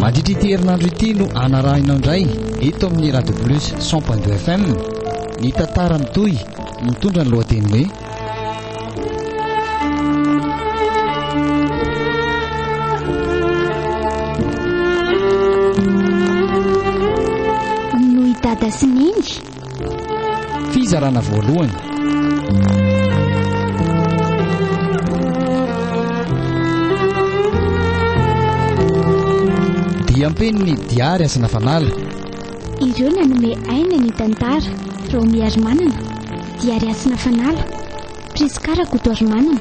Mandritra ity herinandro ity no anarahinao indray eto amin'ny Radio Plus 100.2 FM ny tantara mitohy mitondra ny lohateny hoe Noho i dada sy neny Fizarana voalohany. Diam-peniny Diary Asina Fanala. Ireo nanome aina ny tantara, Raomi Harimanana, Diary Asina Fanala, Prisca Rakotoarimanana,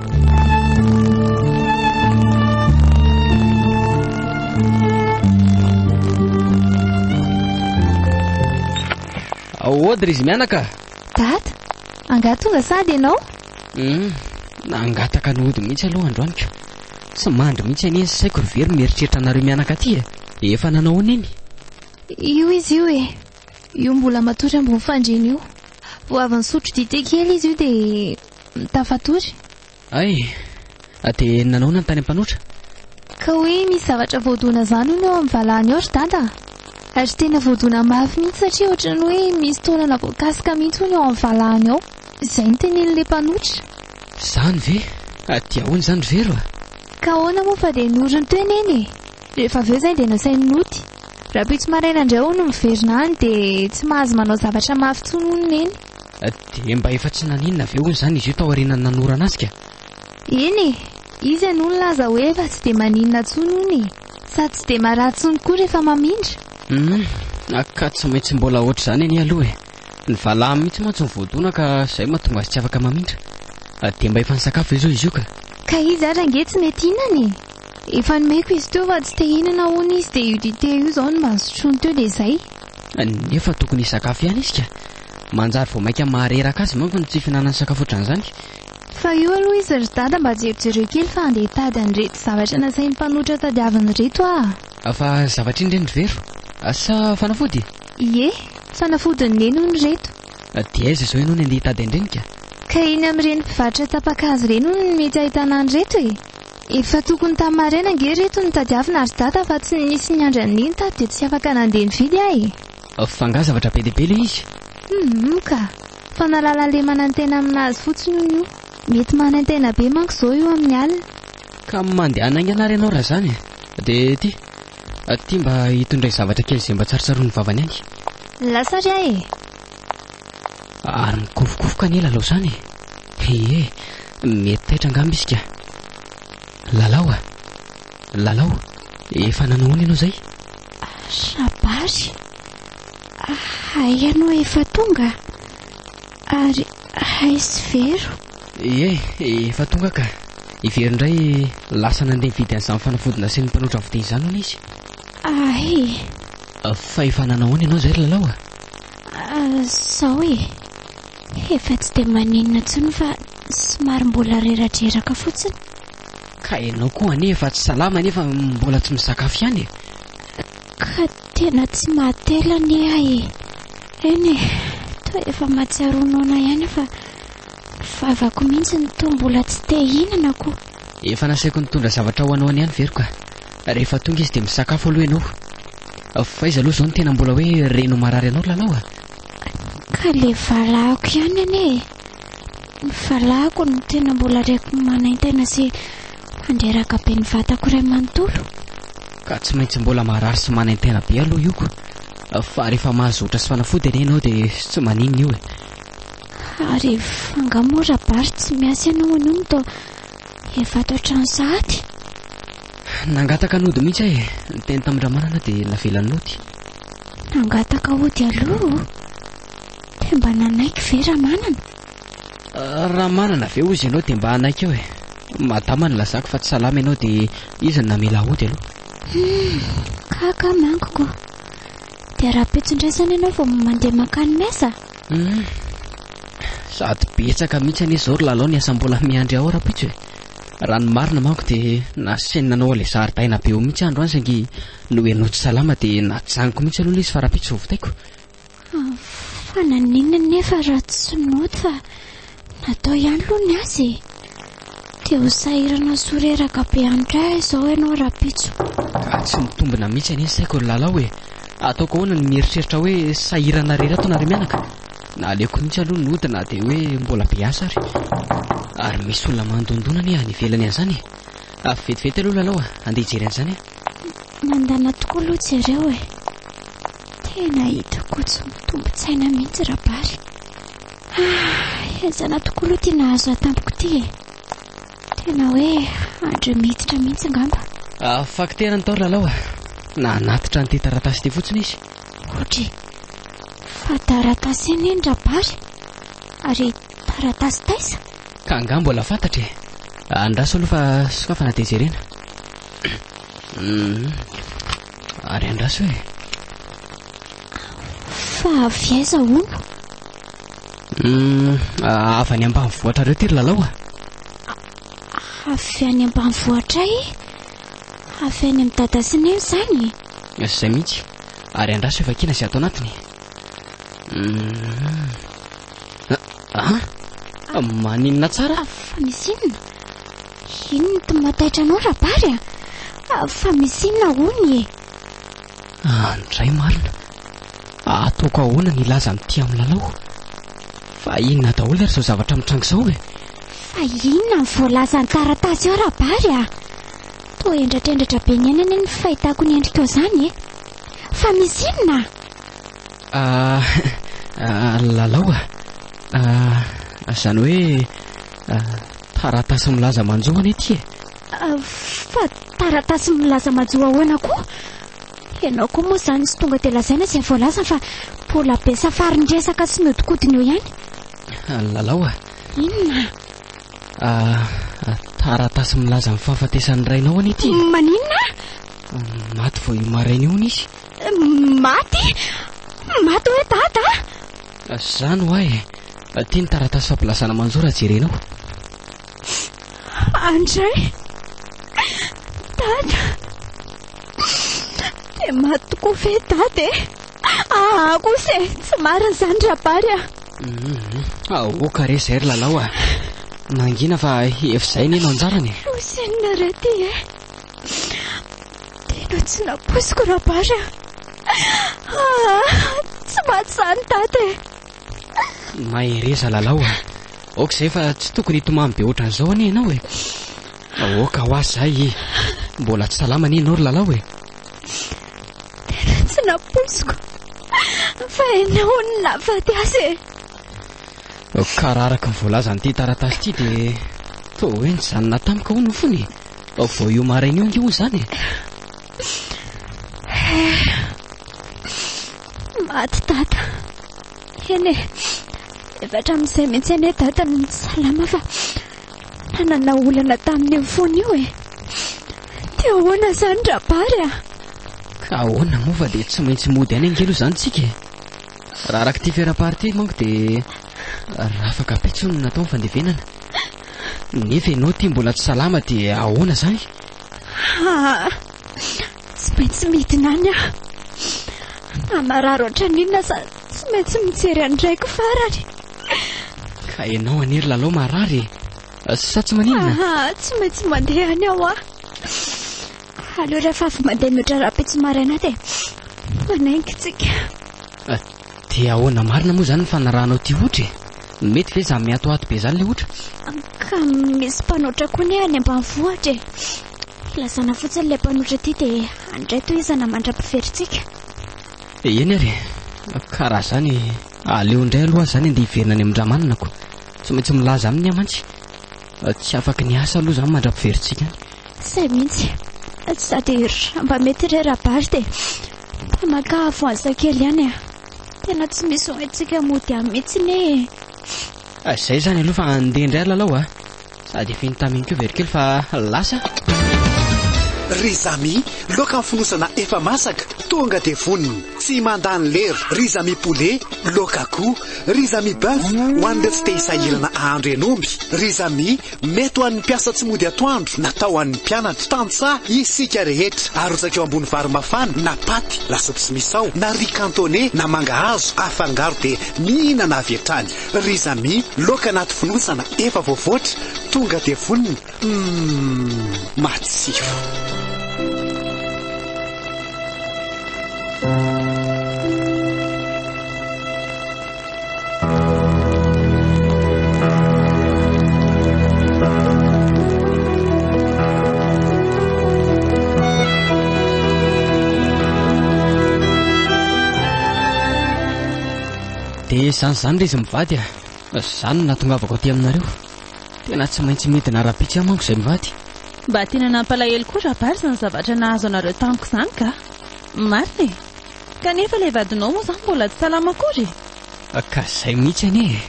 Aohody ry izy mianaka Dada, angaha tonga sady ianao? Hmm, nangataka ny hody mihitsy aloha androany ka. Tsy mandry mihitsy anie ny saiko ry very mieritreritra anareo mianaka aty e. Efa nanao ahoana iny? Io izy io e. Io mbola matory ambony fandriana io. Vao avy nisotro dite kely izy io dia tafatory. Hay! Dia nanaona ny tany am-panoatra? Ka hoe misy zavatra voadona izany hono eo amin'ny valahany ao ry dada a! Ary tena voadona mafy mihitsy satria ohatran'ny hoe misy taolana voakasika mihitsy hono eo amin'ny valahany ao. Izay no tenenin'ilay mpanoatra. Izany ve? Dia ahoana izany ry Vero a? Ka ahoana moa fa dia noriny teo Neny e! Rehefa avy eo izay dia nasainy noty. Rahampitso maraina indray hono miverina any dia tsy mahazo manao zavatra mafy intsony hono Neny. Dia mba efa tsy naninona ve hono izany izy io tao aorianan'ny nanorana azy ka? Eny e! Izy anie no nilaza hoe efa tsy dia maninona intsony hono e! Sady tsy dia marary intsony koa rehefa mamindra. Humm! Ka tsy maintsy mbola hoatr'izany anie aloha e! Ny valahany mihitsy mantsy no voadona ka izay mahatonga azy tsy afaka mamindra. Dia mba efa nisakafo ve izao izy io ka? Ka izy ary ange tsy mety hihinana e! Efa nomeko izy teo fa tsy te hinana hono izy dia io dite io izao no mba nosotroiny teo dia izay. Nefa tokony hisakafo ihany izy ka! Manjary vao mainka mahareraka azy manko ny tsy fihinanany sakafo ohatran'izany. Fa io aloha izy ry dada mba jerijereo kely fa andeha hitady an'ireto zavatra nasain'ny mpanotra tadiaviny ireto aho. Fa zavatra iny re ny vero? Sa fanafody? Ie, fanafodin'i neny hono ireto. Dia aiza izao ianao no andeha hitady an'ireny ka? Ka eny amin'ireny mpivarotra tapa-kazo ireny hono no mety ahitana an'ireto e! Efa tokony tamin'ny maraina ange ry reto no tadiavina ry dada fa tsy nisy niandry an'iny tato dia tsy afaka nandeha nividy aho e! Fa angaha zavatra be dia be ilay izy? Humm ka! Fa nahalala le manantena amin'azy fotsiny hono io. Mety manantena be manko izao io amin'ny alina. Ka mandehana haingana ary ianao raha izany e! Dia ty, ty mba hitondray zavatra kely izay mba tsarotsaroin'ny vavany any. Lasa ary aho e! Ary mikofokofoka anie lalao izany e. Ie, mety taitra angamba izy ka. Lalao a. Lalao, efa nanao ahoana ianao izay? Shabasy. Hay ianao efa tonga. Ary hay sy vero. Ie, efa tonga ka. I Vero indray lasa nandeha nividy an'izany fanafody nasian'ny mpanotra vode izany hono izy. Hay. Fa efa nanao ahoana ianao izay ry Lalao a? Zao e, efa tsy dia maninona intsony fa somary mbola reradreraka fotsiny. Ka ianao koa anie efa tsy salama nefa mbola tsy misakafo ihany e. Ka tena tsy mahatela anie ahy e. Eny e, toa efa mahatsiaro noana ihany fa vavako mihitsy no toa mbola tsy te hihinana koa. Efa nasaiko nitondra zavatra ho anao niany ve ry ka? Rehefa tonga izy dia misakafo aloha ianao Fa aiza aloha izao no tena mbola hoe reno marary anao lalao a? Ka le valahako ihany anie e Ny valahako no tena mbola reko manaintena sy mandreraka be ny vatako iray manontolo Ka tsy maintsy mbola marary sy manaintena be aloha io ko Fa rehefa mahazotra sy fanafody anie ianao dia tsy maninona io e Ary angaha moa Rabary tsy miasa ianao anio no toa efa ato an-trano sahady? Nangataka nody mihitsy aho e. Niteny tamin-dramanana dia navelany nody. Nangataka ody aloha o. Dia mba nanaiky ve Ramanana? Ramanana ve hozy ianao dia mba hanaiky eo e. Madama nilazako fa tsy salama ianao dia izy no namela ody aloha. Kaka manko ko. Dia ara-petson-draisana ianao vao mandeha mankany mesa? Sady betsaka mihitsy anie izao ry lalao ny asa mbola miandry ao rahampitso e. Raha ny marina manko dia nasainy nanao ilay zaridaina be eo mihitsy aho androany saingy nohenoy tsy salama dia najanoko mihitsy aloha ilay izy fa rahampitso vao vitaiko. Fa naninona anefa raha tsy nody fa natao ihany aloha ny azy e? Te ho sahirana sy ho reraka be handray ahy izao ianao rahampitso. Ka tsy mitombina mihitsy anie ny saiko ry Lalao e! Ataoko ahoana ny mieritreritra hoe sahirana rery ato nareo mianaka? Naleoko mihitsy aloha ny ody na dia hoe mbola be asa ary. Ary misy olona mandondona anie any ivelany any izany e! Avy vetivety aloha lalao a! Handeha hijery an'izany aho. Mandana tokoa aloha jereo e! Tena hitako tsy mitombo-tsaina mihitsy Rabary. Ah! Ezana tokoa aloha ity nahazo ahy tampoko ity e! Tena hoe andry miditra mihitsy angamba. Afaky tehana ny tao ry lalao a! Nanatitra an'ity taratasy ity fotsiny izy. Kodry, fa taratasy anie ny rabary, ary taratasy taisa? Ka angaha mbola fantatra e! Andraso aloha fa sokafana dia jerena. Hum, ary andraso e! Fa avy aiza hono? Hum, avy any ambanivohitrareo ty ry Lalao a! Avy any ambanivohitra e! Avy any amin'ny dada sy neny izany e. Izay mihitsy. Ary andraso io vakina sy ato anatiny. Ah, ah, maninona tsara? Ah, fa misy inona? Inona no mataitra anao rabary a? Ah, fa misy inona hono e? Andray marina, ataoko ahoana ny hilaza amin'ny tia amin'ny lalao? Fa inona daholo ary izao zavatra mitranga izao e? Fa inona ny voalaza ny taratasy ao Rabary a? Toa hendratrendratra be ny aina anie ny fahitako ny endrikao izany e. Fa misy inona? Ah, ah, lalao a. Ah, izany hoe ah, taratasy milaza manjo anie ity e. Fa taratasy milaza majo ahoana koa? Ianao koa moa izany tsy tonga dia lazaina izay voalaza fa mbola be safarin-dresaka sy mihodinkodina eo ihany. Lalao a! Inona? Taratasy milaza ny fahafatesan'ny rainao anie ity. Maninona? Maty vao io maraina io hono izy. Maty? Maty hoe dada? Izany ho'a e. Ity ny taratasy fampilazana manjo raha jerenao. Andray, Dada, dia maty tokoa ve Dada e? Aa kosa e, tsy marina izany Rabary a. Aoka re izay ry Lalao a. Mangina fa efa izay anie no anjarany e. Fosinina re ity e. Tena tsy nampoiziko Rabary a. Aa, tsy maty izany Dada e. Mahereza Lalao a! Aoka izay fa tsy tokony hitomany be ohatran'izao anie ianao e! Aoka ho azy izay e! Mbola tsy salama anie ianao ry Lalao e! Tena tsy nampoiziko fa ianao no nahafaty azy e! Ka raha araka ny voalazan'ity taratasy ity dia toa hoe nijanona tamiko hono fony e! Vao io maraina io ange hono izany e! Maty dada. Eny e, efa hatramin'izay mihitsy anie dada no tsy salama fa nanana olana tamin'io fony io e. Dia ahoana izany Rabary a? Ka ahoana moa fa dia tsy maintsy mody any ange aloha izany tsika e. Raha araka ity fera-pary ity manko dia rafaka be intsony no natao ny fandevenana. Nefa ianao ity mbola tsy salama dia ahoana izany? Haa. Tsy maintsy midina any aho. Na marary ohatran'inona aza tsy maintsy mijery an'i Raiko farany. Ka ianao anie ry Lalao marary e! Sa tsy maninona? Ahaa, tsy maintsy mandeha any aho a! Aleo rehefa avy mandeha mihoatra rahampitso maraina dia manenga isika. Dia ahoana marina moa izany ny fanarahanao ity hotra e? Mety ve izany mihatohato be izany ilay hotra? Ka misy mpanotra koa anie any ambanivohitra e! Lazana fotsiny ilay mpanotra ity dia handray tohizana mandra-piverintsika. Eny ary e! Ka raha izany, aleo indray aloha aza izany andeha hiverina any amin-dRamanonako. Tsy maintsy milaza aminy aho mantsy. Tsy afaky ny hiasa aloha izany mandra-piverintsika any. Izay mihitsy. Sady raha mba mety re Rabary dia mba makà voansa kely ihany e! Tena tsy misy ho haintsika mody any mihitsy anie e! Ah, zay zany aloha fa andeha indray ry lalao ah. Sady efa iny taminy koa ve ry kely fa lasa. Ry Zami, loaka ny fonosana efa masaka, tonga dia vonona. Tsy mandany lera. Ry Zami poulet, loaka akoho. Ry Zami bœuf, ho an'ireo tsy te hisahirana ahandro henomby. Ry Zami, Mety ho an'ny mpiasa tsy mody atoandro na tao an'ny mpianatra. Tantsaha isika rehetra. Arotsaka eo ambony vary mafana na paty, lasopy sy misao, na riz cantonné na mangahazo afangaro dia mihinana avy hatrany. Ry Zamy, laoka anaty fonosana efa voavoatra, tonga dia vonona. Umm, matsiro. dia izany izany le izy mivady a izany no nahatongavako aty aminareo tena tsy maintsy midina ara-pitsy amanko izay mivady mba tena nampalahelo koa raha bary izany zavatra nahazo anareo tamiko izany ka marina e Kanefa ilay vadinao moa izany mbola tsy salama akory e! Ka izay mihitsy anie e!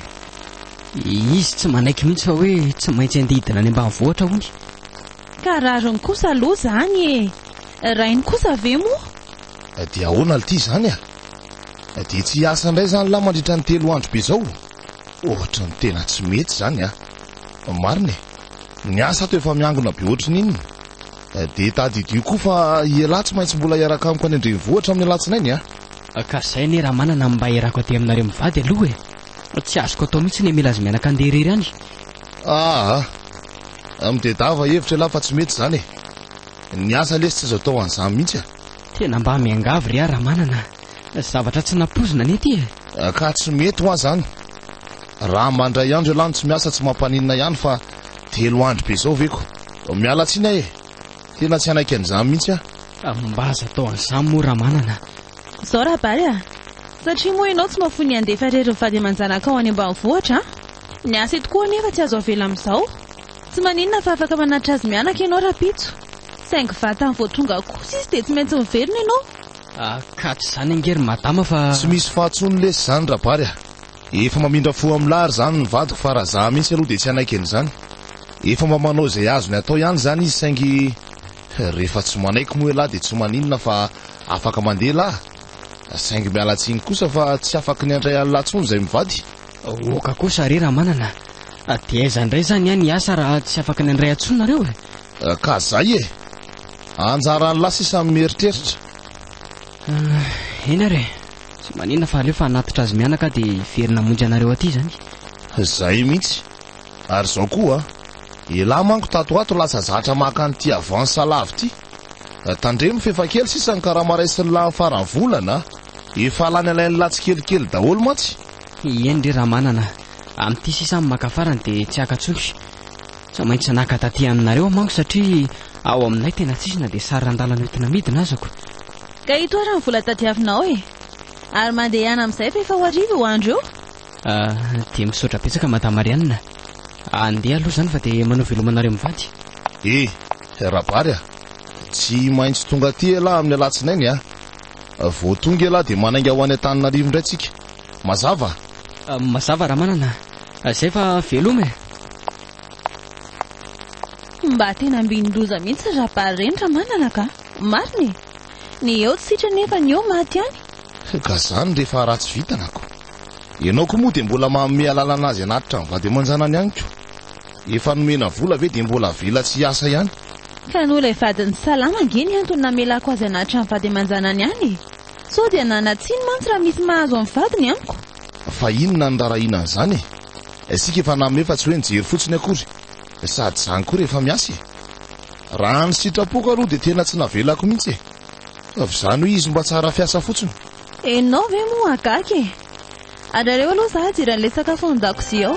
Izy tsy manaiky mihitsy fa hoe tsy maintsy andeha hidina any ambanivohitra hono. Ka rariny kosa aloha izany e! Rainy kosa ve moa? Dia ahoana lty izany a! Dia tsy hiasa indray izany lahy mandritra ny telo andro be izao? Ohatry ny tena tsy mety izany a! Marina e! Ny asa ato efa miangona be ohatry ny inona? Dia tadidio koa fa ialahy tsy maintsy mbola hiaraka amiko any an-drenivohitra amin'ny alatsinainy a! Ka zay anie ramanana mba hiarako aty aminareo mivady aloha e! Tsy azoko atao mihitsy ny mila azy mianaka handeha irery any! Aa! Midedava hevitra ialahy fa tsy mety izany e! Ny asa lesy tsy azo atao an'izany mihitsy a! Tena mba miangavy re a ramanana a! Zavatra tsy nampoizina anie ity e! Ka tsy mety hoa izany! Raha mandray andro ialahy no tsy miasa tsy mampaninona ihany fa telo andro be izao ve ko! Miala tsiny aho e! Tena tsy hanaiky an'izany mihitsy aho. Mba aza atao an'izany moa Ramanana a! Izao Rabary a! Satria moa ianao tsy mahafoy ny handefa irery ny vady aman-janakao any ambanivohitra a! Ny asa eto koa anefa tsy azo avela amin'izao. Tsy maninona fa afaka manatitra azy mianaka ianao rahampitso. Saingy vatany vao tonga koa sisa dia tsy maintsy miverina ianao. Akaty izany ange ry Madama fa. Tsy misy faha-tsony lesy izany Rabary a! Efa mamindra fo am la ary zany ny vadiko fa raha za mintsy aloha dia tsy hanaiky an'izany. Efa mba manao izay azony atao ihany zany izy saingy rehefa tsy manaiky moa elah dia tsy maninona fa afaka mandeha lah. Saingy miala tsiny kosa fa tsy afaky ny handray an'la tsony izay mivady. Oka kosa re Ramanana a! Dia aiza indray zany any hiasa raha tsy afaka ny handray antsony nareo e? Ka zay e! Anjaran'la sisa ny mieritreritra. Eny ary e! Tsy manina fa aleo fa hanatitra azy mianaka aho dia very namonjy anareo aty izany. Zay mihitsy. Ary izao koa a! Elah manko tato ho ato lasa zatra maka an'ity avance salavo ity. Tandremo f'efa kely sisa ny karama raisin'ny lahy ny faran'ny volana a! Efa lany alain'ny lahy tsikelikely daholo mantsy. Eny re Ramanana a! Amin'ity sisa ny maka farany dia tsy haka intsony. Tsy maintsy naka taty aminareo aho manko satria ao aminay tena tsisy na dia sary randala noentina midina azako. Ka ito ary ny vola tadiavinao e! Ary mandehana amin'izay fa efa ho hariva io andro io. Ah, dia misaotra betsaka Madame Marianne. Andeha aloha izany fa dia manao veloma anareo mivady. Eh! Rabary a! Tsy maintsy tonga aty elah amin'ny alatsinainy a! Vao tonga elah dia manainga ho any Antananarivo indray tsika. Mazava? Mazava Ramanana a! Izay fa veloma e! Mba tena ambinin-doza mihitsy ry Rabary ireny Ramanana ka! Marina e! Ny eo tsy sitrany nefa ny eo maty any. Ka zany rehefa ratsy vitana ko. Ianao ko moa dia mbola manome alalana azy hanatitra ny vady aman-janany ihany ko. Efa nomena vola ve dia mbola avela tsy hiasa ihany. Ka noho ilay vadiny salama ange ny antony namelako azy hanatitra ny vady aman-janany any e. Sao dia nana tsiny mantsy raha misy mahazo ny vadiny amiko. Fa inona no rarahiana an'izany e. Isika efa nanome fa tsy hoe nijery fotsiny akory. Sady zany koa rehefa miasa e! Raha ny sitrapoko aloha dia tena tsy navelako mihitsy e! Fa v'izany hoe izy mba tsara fiasa fotsiny. Enao ve moa hagaga e! Ary aleo aloha za hidira an'ilay sakafo ao an-dakozia ao.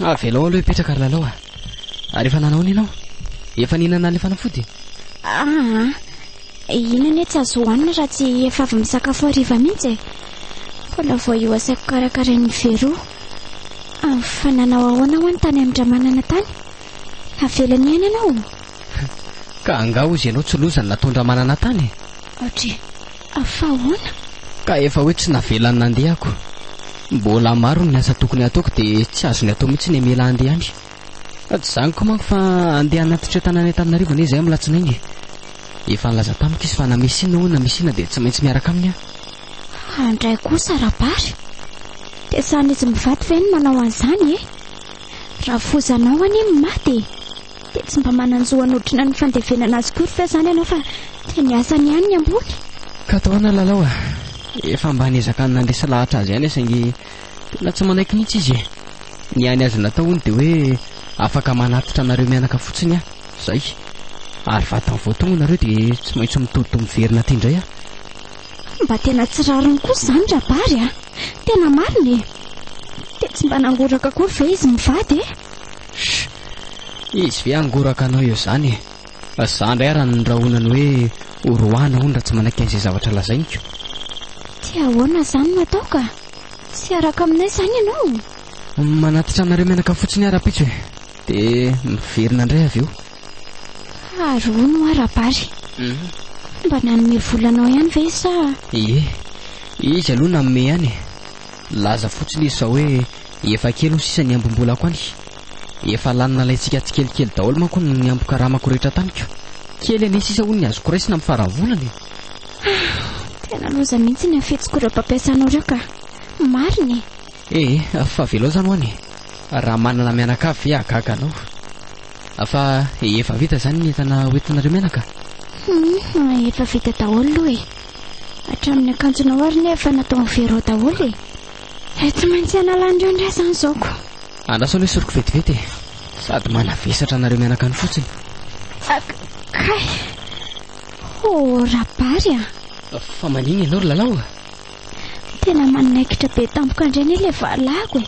Avelao aloha hipetraka ry lalao ah. Ary efa nanao inona ianao? Efa nihinana ilay fanafody? Ah, inona anie tsy azo hohanina raha tsy efa avy misakafo hariva mihitsy e. Mbola vao io asaiko karakarain'ny Vero. Ah, fa nanao ahoana hoany tany amin-dramanana tany? Navelany ihany ianao? Ka angaha hozy ianao tsy loza ny nataon-dramanana tany e? Aotre. Fa ahoana? Ka efa hoe tsy navelany nandeha ako. Mbola maro ny asa tokony hataoko dia tsy azony atao mihitsy ny hamela handeha any. Tsy izany koa manko fa handeha hanatitra eo Tananaitananarivo anie izahay amin'ny latsinainy e. Efa nilaza tamiko izy fa na misy inona hoy na misy inona dia tsy maintsy miaraka aminy aho. Fa indray koa Sarabary, dia sahin'izy mivady ve ny manao an'izany e? Rafozanao anie ny maty e! Dia tsy mba manan-jo hanotrona ny fandevenana azy akory ve izany ianao fa dia ny asany ihany ny ambony? Kataona Lalao a! Efa mba niezaka nandresy lahatra azy ihany aho saingy tena tsy manaiky mihitsy izy e! Ny hany azy natao hono dia hoe afaka manatitra anareo mianaka fotsiny aho, izay. Ary vatany vao tonga nareo dia tsy maintsy mitodi-doha miverina aty indray aho. Mba tena tsy rariny kosa izany Rabary a! Tena marina e! Dia tsy mba nangoraka akory ve izy mivady e? Shh! Izy ve hangoraka anao eo izany e? Fa za indray ary anondrahona ny hoe ho roahina hono raha tsy manaiky an'izay zavatra lazainiko. Dia ahoana izany no atao ka? Tsy hiaraka aminay izany ianao? Manatitra anareo menaka fotsiny aho rahampitso e! Dia miverina indray avy eo. Fa ary hono hoa Rabary, koa mba nanome vola anao ihany ve sa? Ie, izy aloha nanome ihany e! Nilaza fotsiny izy fa hoe Efa kely ho sisa ny hambom-bolako any. Efa lany nalaintsika tsikelikely daholo manko ny niambon-karamako rehetra tamiko. Kely anie sisa hono ny azoko raisina amin'ny faran'ny volana e! Ah! Tena loza mihitsy ny hafetsiko ireo mpampiasanao ireo ka! Marina e! Ee, fa avelao izany ho'an e! Raha manana mianakavy ve hahagaga anao? Fa efa vita izany ny entana hoentinareo mianaka? Hum, efa vita daholo aloha e! Hatramin'ny akanjonao ary anie efa nataon'i Vero ao daholo e! He, tsy maintsy hanala an'ireo indray izany izao ko. Andraso aloha esoriko vetivety e. Sady manavesatra anareo mianakany fotsiny. Ak, kay. Ho, Rabary a. Fa manina ianao ry Lalao a? Tena manaikitra be tampoka indray anie ilay valahako e.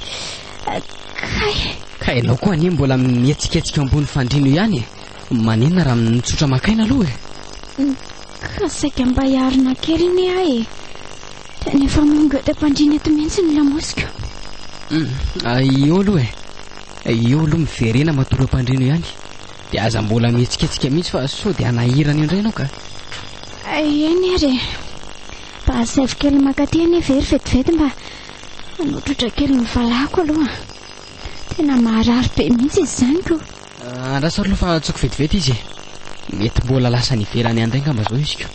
Ak, kay. Ka ianao koa anie mbola mihetsiketsika eo ambony fandriana eo ihany e. Maninona raha mitsotra maka aina aloha e? Ka saika mba hiarina kely anie aho e. Tena efa mangeody am-pandriana eto mihitsy ny lamosiko. Eo aloha e. Eo aloha miverena matory am-pandriana eo ihany. Dia aza mbola mihetsiketsika mihitsy fa sao dia hanahirana indray ianao ka. Eny ary e. Mba asaivo kely maka aty anie very vetivety mba hanotrotra kely ny valahako aloha. Tena maharary be mihitsy izany ko. Andraso ary aloha fa tsoiko vetivety izy e. Mety mbola lasa niverany handray angamba izao izy ko.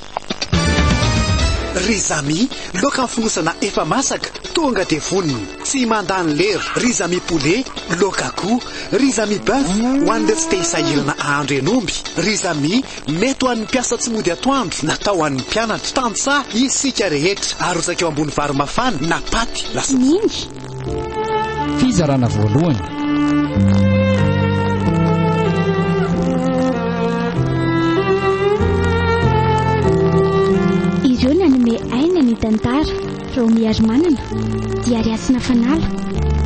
Ry Zamy, loaka ny fonosana efa masaka, tonga dia vonona. Tsy mandany lera. Ry Zamy poulet, loaka akoho. Ry Zamy boeuf, ho an'ireo tsy te hisahirana hahandro hen'omby. Ry Zamy, mety ho an'ny mpiasa tsy mody atoandro, natao ho an'ny mpianatra. Tantsaha isika rehetra. Arotsaka eo ambony vary mafana na paty, lasopy. Miny, Fizarana voalohany. Ireo nanome aina ny tantara, Raomi Arimanana, Diary Hasina Fanala,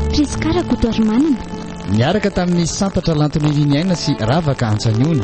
Prisca Rakoto Arimanana, Niaraka tamin'ny Santatra Lantoniriniaina sy Ravaka Antsaniony.